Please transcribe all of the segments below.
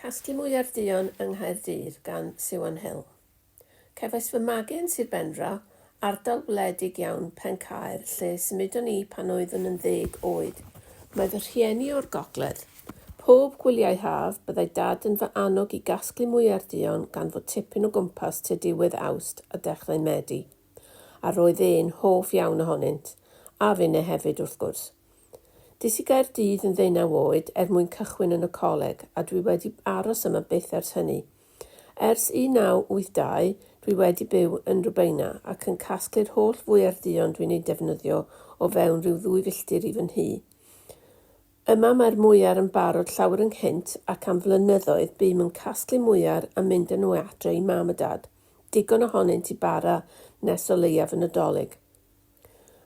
Casglu mwya'r duon yng Nghaerdydd gan Siwan Hill. Cefais fy magu yn Sir Benfro, ardal wledig iawn Pencaer lle symudon ni pan oeddwn yn ddeg oed. Mae fy rhieni o'r gogledd. Pob gwyliau haf, byddai Dad yn fy annog i gasglu mwya'r duon gan fod tipyn o gwmpas tua diwedd Awst a dechrau Medi, a roedd e'n hoff iawn ohonynt, a finne hefyd wrth gwrs. Des i Gaerdydd yn ddeunaw oed er mwyn cychwyn yn y coleg a dwi wedi aros yma byth ers hynny. Ers 1982, dwi wedi byw yn Rubeina ac yn casglu'r holl fwyerduon dwi'n eu defnyddio o fewn rhyw ddwy filltir i fy nhŷ. Yma mae'r mwyar yn barod llawer ynghynt ac am flynyddoedd bûm yn casglu mwyar a mynd â nhw adre i mam a dad, digon ohonynt i bara nes o leiaf y Nadolig.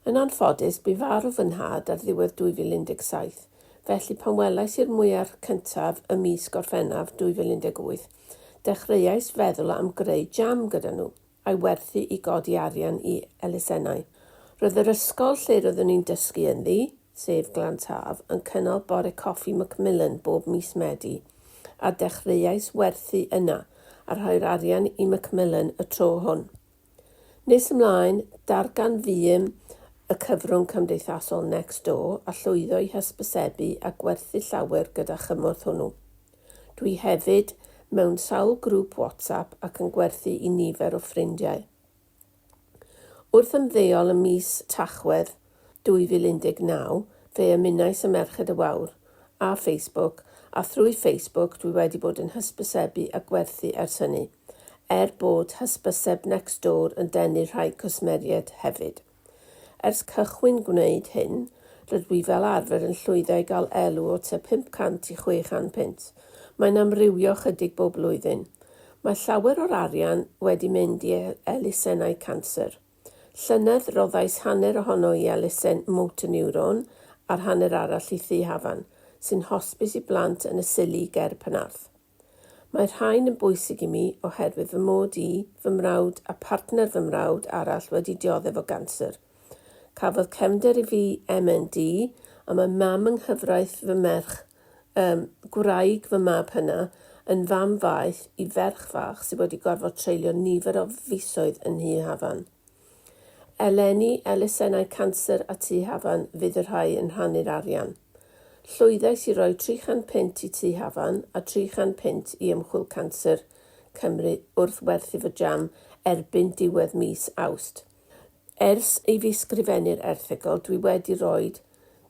Yn anffodus, bu farw fy nhad ar ddiwedd 2017, felly pan welais i'r mwyar cyntaf ym mis Gorffennaf 2018, dechreuais feddwl am greu jam gyda nhw, a'i werthu i godi arian i elusennau. Roedd yr ysgol lle roeddwn i'n dysgu ynddi, sef Glan Taf, yn cynnal bore coffi Macmillan bob mis Medi, a dechreuais werthu yna, a rhoi'r arian i Macmillan y tro hwn. Nes ymlaen, darganfuom y cyfrwng cymdeithasol Nextdoor a llwyddo i hysbysebu a gwerthu llawer gyda chymorth hwnnw. Dwi hefyd mewn sawl grŵp WhatsApp ac yn gwerthu i nifer o ffrindiau. Wrth ymddeol ym mis Tachwedd 2019, fe ymunais â Merched y Wawr ar Facebook a thrwy Facebook dwi wedi bod yn hysbysebu a gwerthu ers hynny, er bod hysbyseb Nextdoor yn denu rhai cwsmeriaid hefyd. Ers cychwyn gwneud hyn, rydw i fel arfer yn llwyddo i gael elw o tua 500 i 600 punt, mae'n amrywio chydig bob blwyddyn. Mae llawer o'r arian wedi mynd i elusennau canser. Llynedd roddais hanner ohono i elusen Motor Neuron a'r hanner arall i Thŷ Hafan, sy'n hosbis i blant yn y Scilly ger Penarth. Mae'r rhain yn bwysig i mi oherwydd fy mod i, fy mrawd a partner fy mrawd arall wedi dioddef o ganser. Cafodd cefnder i fi MND a mae mam yng nghyfraith fy merch Ym gwraig fy mab hyna, yn fam faeth i ferch fach sydd wedi gorfod treulio nifer o fisoedd yn nhŷ Hafan. Eleni, elusennau canser a tŷ Hafan fydd y rhai yn rhannu'r arian. Llwyddais i roi 300 punt i tŷ Hafan a 300 punt i Ymchwil Canser Cymru wrth werthu fy jam erbyn diwedd mis Awst. Ers i fi sgrifennu'r erthygl dwi wedi rhoi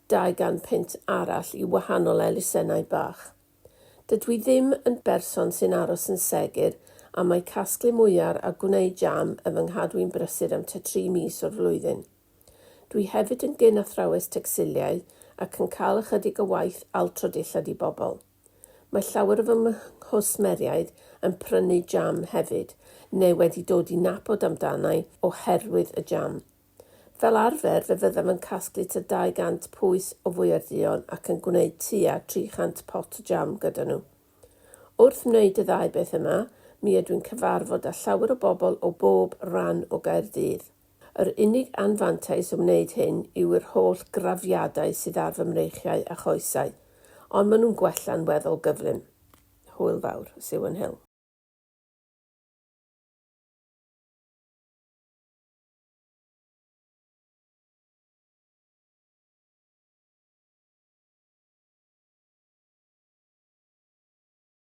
dau gan punt arall i wahanol elusennau bach. Dydw i ddim yn berson sy'n aros yn segur am mai casglu mwyar a gwneud jam y fy nghadw i'n brysur am tua tri mis o'r flwyddyn. Dwi hefyd yn gyn athrawes tecsiliau ac yn cael ychydig o waith altro dillad i bobl. Mae llawer o fy nghwsmeriaid yn prynu jam hefyd, neu wedi dod i nabod amdanai oherwydd y jam. Fel arfer, fe fyddaf yn casglu t'a 200 pwys o fwyau'r duon ac yn gwneud tua 300 pot o jam gyda nhw. Wrth wneud y ddau beth yma, mi ydw'n cyfarfod â llawer o bobl o bob ran o Gaerdydd. Yr unig anfantais o wneud hyn yw i'r holl grafiadau sydd ar fy mreichiau a choesau, ond maen nhw'n gwella'n weddol gyflym. Hwyl fawr. Siwan Hill.